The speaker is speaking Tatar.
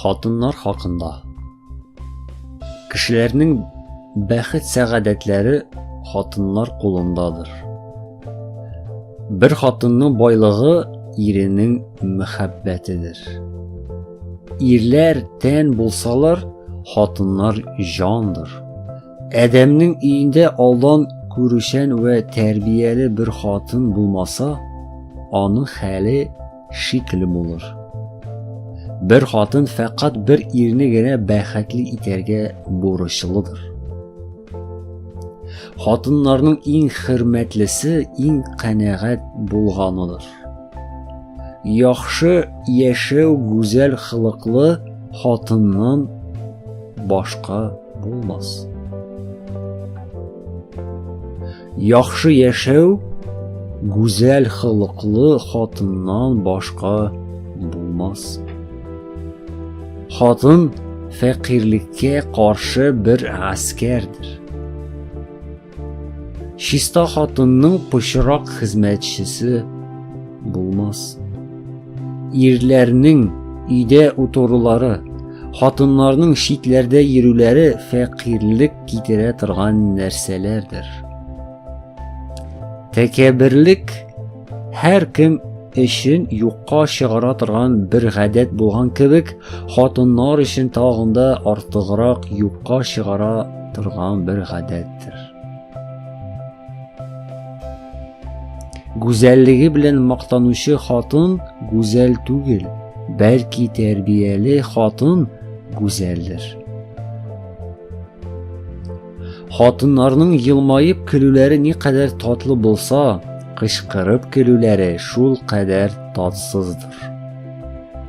Хатыннар хакында Кешеләрнең бәхет сәгадәтләре хатыннар кулындадыр. Бер хатынның байлыгы иренең мәхәббәтедер. Ирләр тән булсалар, хатыннар җандыр. Адәмнең өендә алдан күрүчән вә тәрбияле бер хатын булмаса, аның хәле шикле булыр. Бер хатын фәкать бер ирне генә бәхетле итәргә бурычлыдыр. Хатыннарның иң хөрмәтлесе иң канәгать булганыдыр. Яхшы яшәү гүзәл хылыклы хатыннан башка булмас. Яхшы яшәү гүзәл холыклы хатыннан башка булмас. Хатын фәкыйрьлеккә каршы бер гаскәрдер. Чиста хатынның пычрак хезмәтчесе булмас. Ирләрнең өйдә утырулары, хатыннарның читләрдә йөрүләре фәкыйрьлек китерә торган нәрсәләрдер. Тәкәбберлек һәр кем өчен юкка чыгара торган бер гадәт булган кебек, хатыннар өчен тагында артыграк юкка чыгара торган бер гадәттер. Гүзәллеге белән мактанучы хатын гүзәл түгел, бәлки тәрбияле хатын гүзәлдер. Хатыннарның елмаеп көлүләре ни кадәр татлы булса, кычкырып көлүләре шул кадәр татсыздыр.